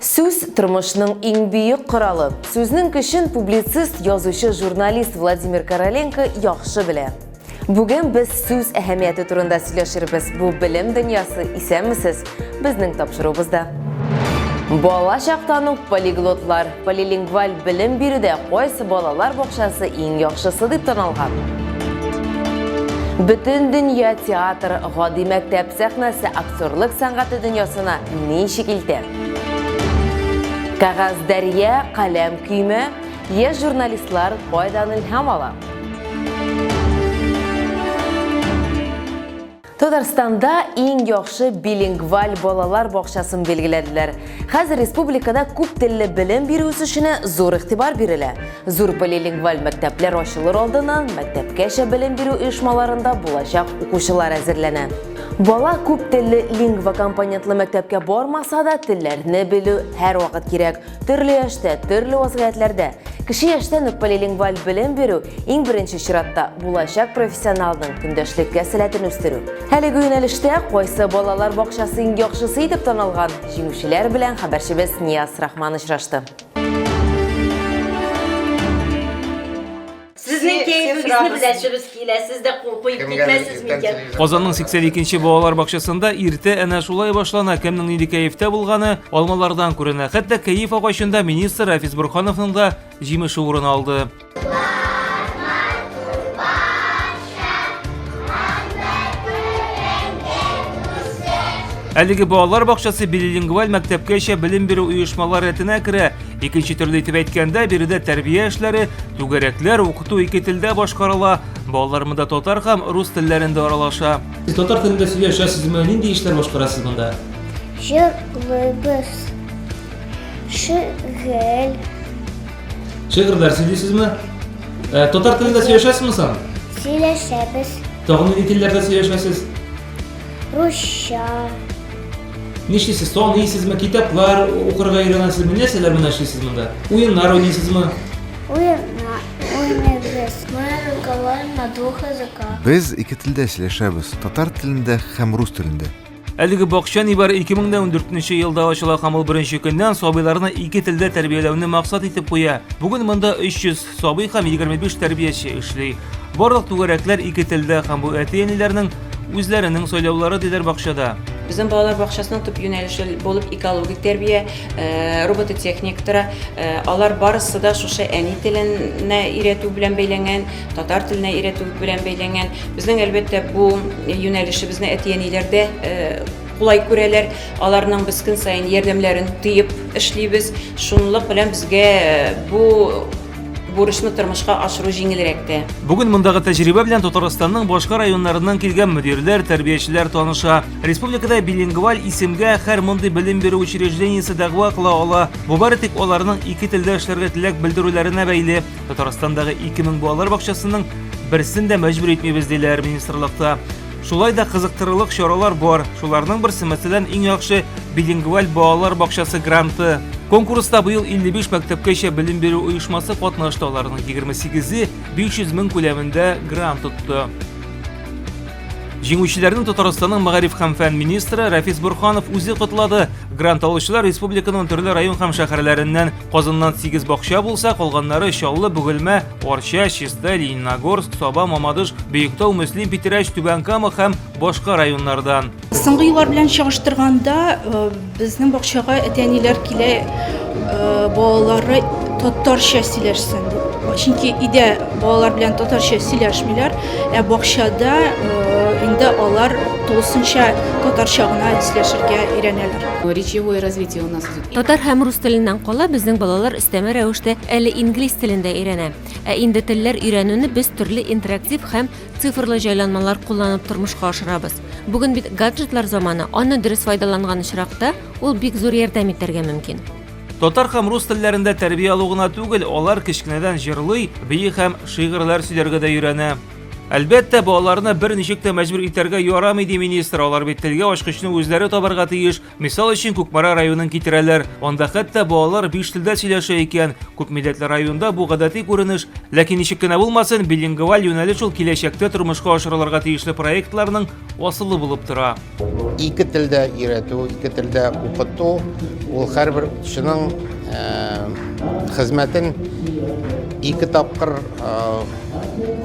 Сүз, тормышның иң бөек коралы. Сүзнең көчен публицист, язучы, журналист Владимир Короленко яхшы белә. Бүген без сүз әһәмияте турында сөйләшербез. Бу белем дөньясы, исәнмесез, безнең тапшыруыбызда. Бала чактан ук полиглотлар, полилингваль белем бирүдә кайсы балалар бакчасы иң яхшысы дип таналган? Бөтен дөнья театр гади мәктәп сәхнәсе Зурлык сәнгате дөньясына ничек илтә? Кәгазь дәрья, каләм көймә, яшь журналистлар кайдан илһам ала? Татарстанда иң яхшы билингваль балалар бакчасын билгеләделәр. Хәзер республикада күп телле белем бирү үсешенә зур игътибар бирелә. Зур билингваль мәктәпләр ачылыр алдыннан мәктәпкәчә белем бирү оешмаларында булачак укучылар әзерләнә. Бала күп телле лингва компонентлы мәктәпкә бармаса да, телләрне белү һәрвакыт кирәк. Төрле яшьтә, төрле вазгыятьләрдә. Кече яшьтән үк полилингваль белем бирү иң беренче чиратта булачак профессионалның көндәшлеккә сәләтен үстерү. Әлеге юнәлештә кайсы балалар бакчасы иң яхшысы итеп танылган? Җиңүчеләр белән хәбәрчебез Нияз Рахман очрашты. Сезнең кәефегезне беләсебез килә, сез дә куеп китмәссез микән? Казанның 82 нче балалар бакчасында иртә әнә шулай башлана, кемнең нинди кәефтә булганы алмалардан күренә. Хәтта кәеф агачында министр Рафис Борһановның да җимеше урын алды. Әлеге балалар бакчасы билилингваль мәктәпкәчә белем бирү оешмалар рәтенә керә. Икенче төрле итеп әйткәндә, биредә тәрбия эшләре, түгәрәкләр, укыту ике телдә башкарыла. Балалар монда татар һәм рус телләрендә аралаша. Сез татар телендә сөйләшәсез, менә нинди эшләр башкарасыз монда? Җырлыйбыз. Шигель. Шигырьләр сөйлисезме? Э, татар телендә сөйләшәсезме соң? Сөйләшәбез. Тагын нинди телләрдә сөйләшәсез? Русча. Нишлисез, таныйсызмы, китаплар укырга өйрәнәсезме, нәрсәләр генә эшлисез монда? Уеннар уйныйсызмы? Уеннар уйныйбыз. Мы разговариваем на двух языках. Без ике телдә сөйләшәбез, татар телендә һәм рус телендә. Әлеге бакча нибары 2014 елда ачыла һәм ул беренче көннән сабыйларны ике телдә тәрбияләүне максат итеп куя. Бүген монда 300 Сабый һәм 25 тәрбияче эшли. Барлык түгәрәкләр ике телдә һәм бу әти-әниләрнең үзләренең сайлаулары диләр бакчада. Безнең балалар бакчасының төп юнәлеше булып экологик тәрбия, э, робототехник тора. Э, алар барысы да шушы әни теленә өйрәтү белән бәйләнгән, татар теленә өйрәтү белән бәйләнгән. Безнең әлбәттә бу юнәлешебезне әти-әниләр дә э, кулай күрәләр, аларның без көн саен ярдәмнәрен тыеп эшлибез. Шунлык белән безгә бу бурычны тормышка ашыру җиңелрәк тә. Бүген мондагы тәҗрибә белән Татарстанның башка районнарыннан килгән мөдирләр, тәрбиячеләр таныша. Республикада билингваль исемгә һәр мондый белем бирү учреждениесе дәгъва кыла ала. Бу бары тик аларның ике телдә эшләргә теләк белдерүләренә бәйле. Татарстандагы 2000 балалар бакчасының берсен дә мәҗбүр итмибез, диләр министрлыкта. Шулай да кызыктырырлык чаралар бар. Шуларның берсе, мәсәлән, иң яхшы билингваль балалар бакчасы гранты. Конкурста быел 55 мәктәпкәчә белем бирү оешмасы катнашты, аларның 28-е 500 мең күләмендә грант тотты. Җиңүчеләрне Татарстанның мәгариф һәм фән министры Рафис Бурханов үзе котлады. Грант алучылар республиканың төрле район һәм шәһәрләреннән. Казаннан 8 бакча булса, калганнары Чаллы, Бөгелмә, Арча, Чистай, Лениногорск, Саба, Мамадыш, Бөектау, Мөслим, Питерәч, Түбән Кама һәм башка районнардан. Соңгы еллар белән чагыштырганда э, безнең бакчага әти-әниләр килә, э, балалары татарча сөйләшсен дип. Чөнки өйдә балалар белән татарча сөйләшмиләр, ә бакчада э, инде алар тулысынча татарча гына сөйләшергә өйрәнәләр. Речевое развитие у нас идет Татар һәм рус теленнән кала безнең балалар өстәмә рәвештә әле инглиз телен дә өйрәнә. Ә инде телләр өйрәнүне без төрле интерактив һәм цифрлы җайланмалар кулланып тормышка ашырабыз. Бүген бит гаджетлар заманы, аны дөрес файдаланган очракта ул бик зур ярдәм итәргә мөмкин. Татар һәм рус телләрендә тәрбия алу гына түгел, алар кечкенәдән җырлый, бии һәм шигырьләр сөйләргә дә өйрәнә. Әлбәттә, балаларны бер ничек тә мәҗбүр итәргә ярамый, ди министр. Алар бит телгә ачкычны үзләре табарга тиеш. Мисал өчен Кукмара районын китерәләр. Анда хәтта балалар биш телдә сөйләшә икән. Күп милләтле районда бу гадәти күренеш. Ләкин ничек кенә булмасын, билингваль юнәлеш ул киләчәктә тормышка ашырылырга тиешле проектларның асылы булып тора. Ике телдә өйрәтү, ике телдә укыту ул һәрбер укытучының хезмәтен ике тапкыр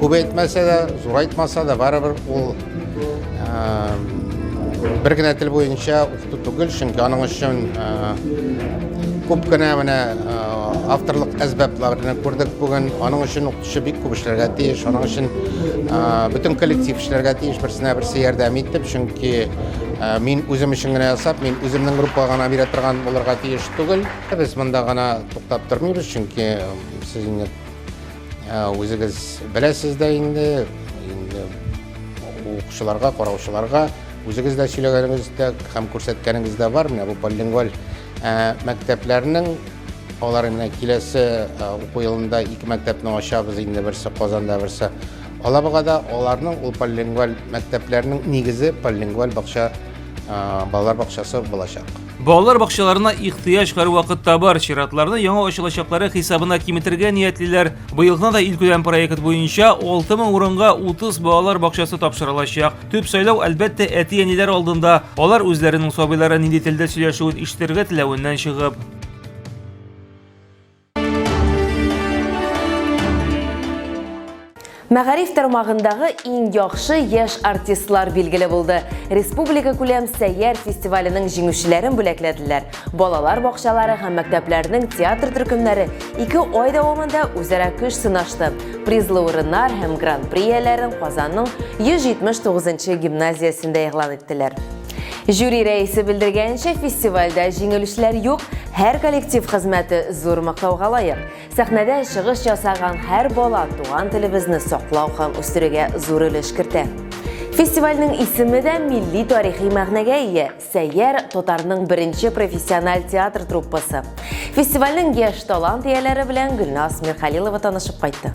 күбәйтмәсә дә, зурайтмаса да, барыбер ул Бер генә тел буенча укыту түгел, чөнки аның өчен күп кенә менә авторлык әсбапларны күрдек бүген. Аның өчен укытучы бик күп эшләргә тиеш. Аның өчен бөтен коллектив эшләргә тиеш, берсенә берсе ярдәм итеп, чөнки мин үзем өчен генә ясап, мин үземнең группага гына бирә торган булырга тиеш түгел. Без монда гына туктап тормыйбыз, чөнки сез инде Үзегез беләсез дә инде, инде укучыларга, караучыларга үзегез дә сөйләгәнегез дә һәм күрсәткәнегез дә бар. Менә бу полингваль мәктәпләрнең алар менә киләсе уку елында ике мәктәпне ачабыз инде берсе Казанда, берсе Алабугада. Аларның ул полингваль мәктәпләрнең нигезе полингваль бакча балалар бакчасы булачак. Балалар бакчаларына ихтыяҗ һәрвакытта бар. Чиратларны яңа ачылачаклары хисабына киметергә ниятлиләр. Быел гына да илкүләм проект буенча 6000 урынга 30 балалар бакчасы тапшырылачак. Төп сайлау, әлбәттә, әти-әниләр алдында. Алар үзләренең сабыйлары нинди телдә сөйләшүен ишетергә теләвеннән чыгып. Мәгариф тармагындагы иң яхшы яшь артистлар билгеле булды. Республика күләм сәйяр фестиваленең җиңүчеләрен бүләкләделәр. Балалар бакчалары һәм мәктәпләрнең театр төркемнәре ике ай дәвамында үзара көч сынашты. Призлы урыннар һәм гран-при ияләрен Казанның 179 нчы гимназиясендә игълан иттеләр. Жюри рәисе белдергәнчә, фестивальдә җиңелүчеләр юк, һәр коллектив хезмәте зур мактауга лаек. Сәхнәдә чыгыш ясаган һәр бала туган телебезне саклау һәм үстерүгә зур өлеш кертә. Фестивальнең исеме дә милли тарихи мәгънәгә ия. Сәйяр татарның беренче профессиональ театр труппасы. Фестивальнең яшь талант ияләре белән Гөлназ Мирхәлилова танышып кайтты.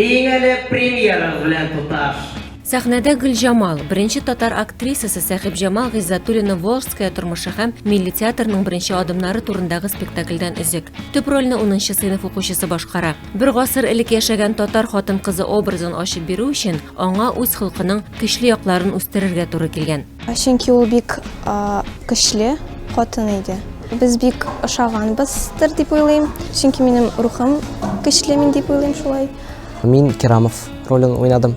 Иң әле премьера белән тоташ. Сәхнәдә Гөлҗамал, беренче татар актрисасы Сәхибҗамал Гыйззатуллина Волжская тормышы һәм милли театрның беренче адымнары турындагы спектакльдән өзек. Төп рольне 10 сыйныф укучысы башкара. Бер гасыр элек яшәгән татар хатын-кызы образын ачып бирү өчен Аңа үз холкының көчле якларын үстерергә туры килгән. Чөнки ул бик көчле хатын иде. Без бик ошаганбыздыр дип уйлыйм. Чөнки минем рухым көчле мин дип уйлыйм шулай. Мин Керамов ролен уйнадым.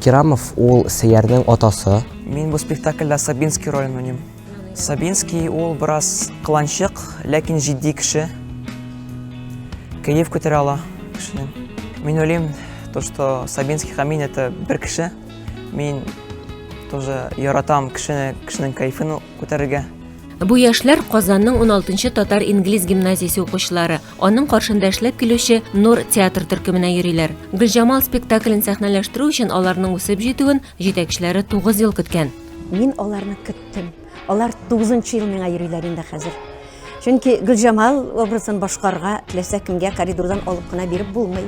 Керамов ул Сәярнең атасы. Мин бу спектакльдә Сабинский ролен уйныйм. Сабинский ул бераз кыланчык, ләкин җитди кеше. Кәеф күтәрә ала кешене. Мин уйлыйм, то что Сабинский һәм мин это бер кеше. Мин тоже яратам кешене, кешенең кәефен күтәрергә. Бу яшьләр Казанның 16-нчы татар-инглиз гимназиясе укучылары. Аның каршында эшләп килүче Нур театр төркеменә йөриләр. Гөлҗамал спектаклен сәхнәләштерү өчен аларның үсеп җитүен җитәкчеләре 9 ел көткән. Мин аларны көттем. Алар тугызынчы ел миңа йөриләр инде хәзер. Чөнки Гөлҗамал образын башкарга теләсә кемгә коридордан алып кына биреп булмый.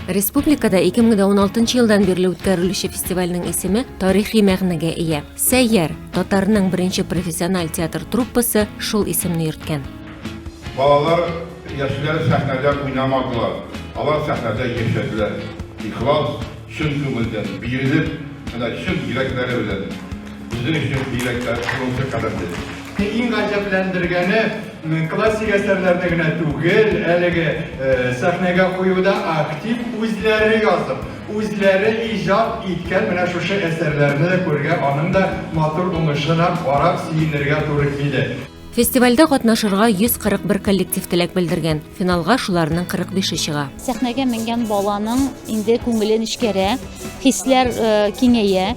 Республикада 2016 елдан бирле үткәрелүче фестивальнең исеме тарихи мәгънәгә ия. Сәйяр, татарның беренче профессиональ театр труппасы шул исемне йөрткән. Балалар, яшьләр сәхнәдә уйнамадылар, алар сәхнәдә яшәделәр. Ихлас, Чын күңелдән, бирелеп, менә чын йөрәкләре белән безнең өчен бигрәктә шунысы кадерле. Иң гаҗәпләндергәне, классик әсәрләрне генә түгел, әлеге сәхнәгә куюда актив үзләре язып, үзләре иҗат иткән менә шушы әсәрләрне дә күрергә, аның да матур уңышына карап сөенергә туры килә. Фестивальдә катнашырга 141 коллектив теләк белдергән. Финалга шуларның 45-е чыга. Сәхнәгә менгән баланың инде күңеле нечкәрә, хисләр э, киңәя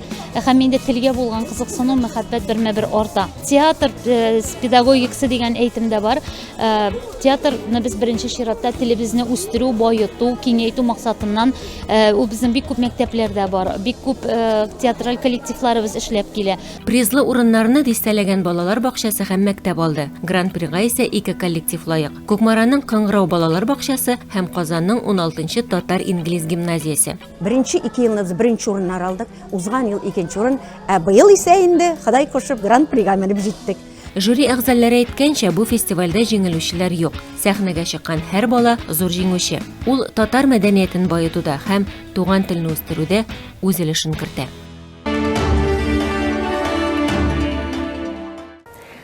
һәм инде телгә булган кызыксыну, мәхәббәт бермә-бер арта. Театр э, педагогикасы дигән әйтем дә бар. Э, театрны без беренче чиратта телебезне үстерү, баету, киңәйтү максатыннан ул безнең бик күп мәктәпләрдә бар, бик күп театраль коллективларыбыз эшләп килә. Призлы урыннарны дистәләгән балалар бакчасы һәм мәктәп алды. Гран-прига исә ике коллектив лаек. Кукмараның Кыңгырау балалар бакчасы һәм Казанның 16-нчы татар-инглиз гимназиясе. Беренче ике елны без беренче урыннар алдык, узган ел икенче урын, ә быел исә инде Ходай кушып гран-прига менеп җиттек. Жюри әгъзалары әйткәнчә, бу фестивальдә җиңелүчеләр юк. Сәхнәгә чыккан һәр бала зур җиңүче. Ул татар мәдәниятен баетуда һәм туган телне үстерүдә үз өлешен кертә.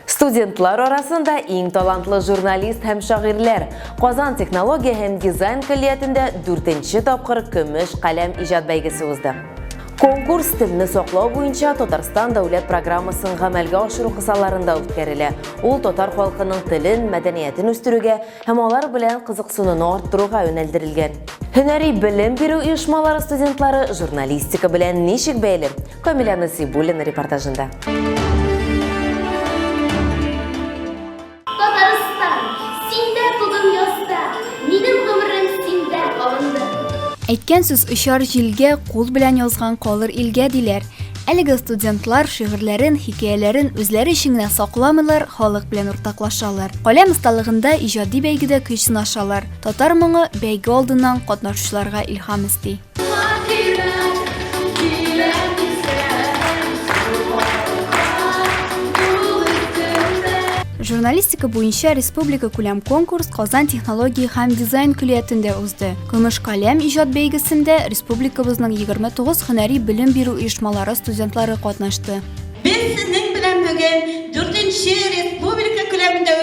Студентлар арасында иң талантлы журналист һәм шагыйрьләр Казан технология һәм дизайн көллиятендә дүртенче тапкыр көмеш каләм иҗат бәйгесе узды. Конкурс телне саклау буенча Татарстан дәүләт программасын гамәлгә ашыру кысаларында үткәрелә. Ул татар халкының телен, мәдәниятен үстерүгә һәм алар белән кызыксынуны арттыруга юнәлдерелгән. Һөнәри белем бирү оешмалары студентлары журналистика белән ничек бәйле? Камиля Насибуллина репортажында. Әйткән сүз очар җилгә, кул белән язган калыр илгә диләр. Әлеге студентлар шигырьләрен, хикәяләрен үзләре өчен генә сакламыйлар, халык белән уртаклашалар. Каләм осталыгында иҗади бәйгедә көч сынашалар. Татар моңы бәйге алдыннан катнашучыларга илһам өсти. Журналистика буенча республика күләм конкурс Казан технология һәм дизайн көллиятендә узды. Көмеш каләм иҗат бәйгесендә республикабызның 29 һөнәри белем бирү оешмалары студентлары катнашты. Без сезнең белән бүген 4-нче республика күләмендә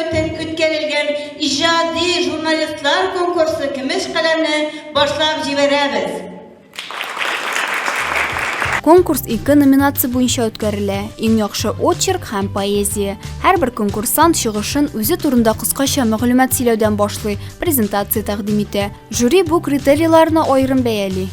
үткәрелгән иҗади журналистлар конкурсы Көмеш каләмне Башлап җибәрәбез! Конкурс ике номинация буенча үткәрелә. Иң яхшы очерк һәм поэзия. Һәрбер конкурсант чыгышын үзе турында кыскача мәгълүмат сөйләүдән башлый, презентация тәкъдим итә. Жюри бу критерийларны аерым бәяли.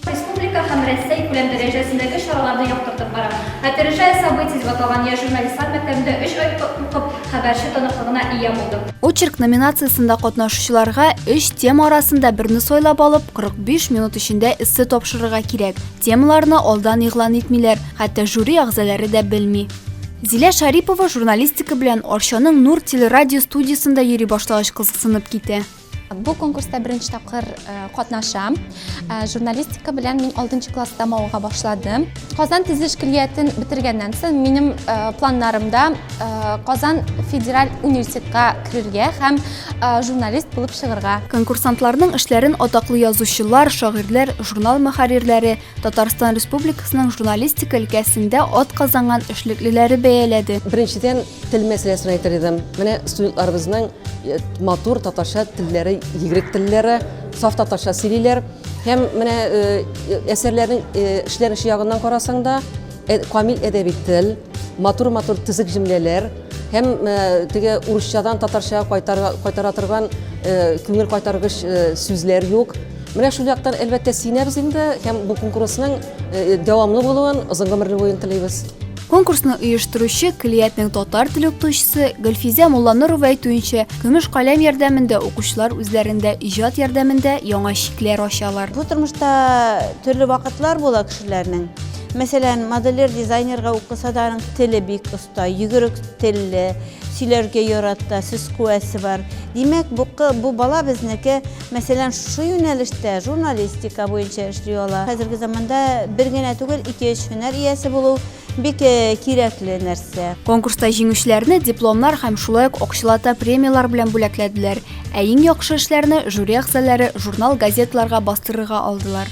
Республика һәм Рәсәй күләм дәрәҗәсендәге чараларны яктыртып бара. Опережая события дип аталган яшь журналистлар мәктәбендә өч ай укып, Хәбәрче таныклыгына ия булды. Очерк номинациясендә катнашучыларга өч тема арасында берне сайлап алып, 45 минут эчендә эссе тапшырырга кирәк. Темаларны алдан игълан итмиләр, хәтта жюри әгъзалары да белми. Зилә Шарипова журналистика белән Арчаның Нур телерадио студиясендә йөри башлагач кызыксынып китә. Бу конкурста беренче тапкыр катнашам. Журналистика белән мин 6 класста мауга башладым. Казан тизеш көллиятен бетергәннән соң минем планнарымда Казан федераль университетка керергә һәм журналист булып чыгарга. Конкурсантларның эшләрен атаклы язучылар, шагыйрьләр, журнал мөхәррирләре, Татарстан Республикасының журналистика өлкәсендә атказанган эшлеклеләре бәяләде. Беренчедән Тел мәсьәләсен әйтер идем. Менә студентларыбызның матур татарча телләре, егрек телләре, саф татарча сөйлиләр. Һәм менә әсәрләрнең эшләнеше ягыннан карасаң да, камил әдәби тел, матур-матур тизек җөмләләр һәм теге урысчадан татарча кайтара торган күңел кайтаргыч сүзләр юк. Менә шул яктан әлбәттә сөенәбез инде һәм бу конкурсның дәвамлы булуын, озын гомерле булуын телибез. Конкурсны оештыручы Клиятнең татар теле укытучысы Гөлфизә Мулланурова әйтүенчә, көмеш каләм ярдәмендә укучылар үзләрендә иҗат ярдәмендә яңа чикләр ачалар. Бу тормышта төрле вакытлар була кешеләрнең. Мәсәлән, модельер дизайнерга укыса да аның теле бик оста, йөгерек телле, сөйләргә ярата, сүз куәсе бар. Димәк, бу бала безнеке. Мәсәлән, шушы юнәлештә журналистика буенча эшли ала. Хәзерге заманда бер генә түгел, ике-өч һөнәр иясе булу бик кирәкле нәрсә. Конкурста җиңүчеләрне дипломнар һәм шулай ук акчалата премияләр белән бүләкләделәр, ә иң яхшы эшләрне жюри әгъзаләре журнал-газеталарга бастырырга алдылар.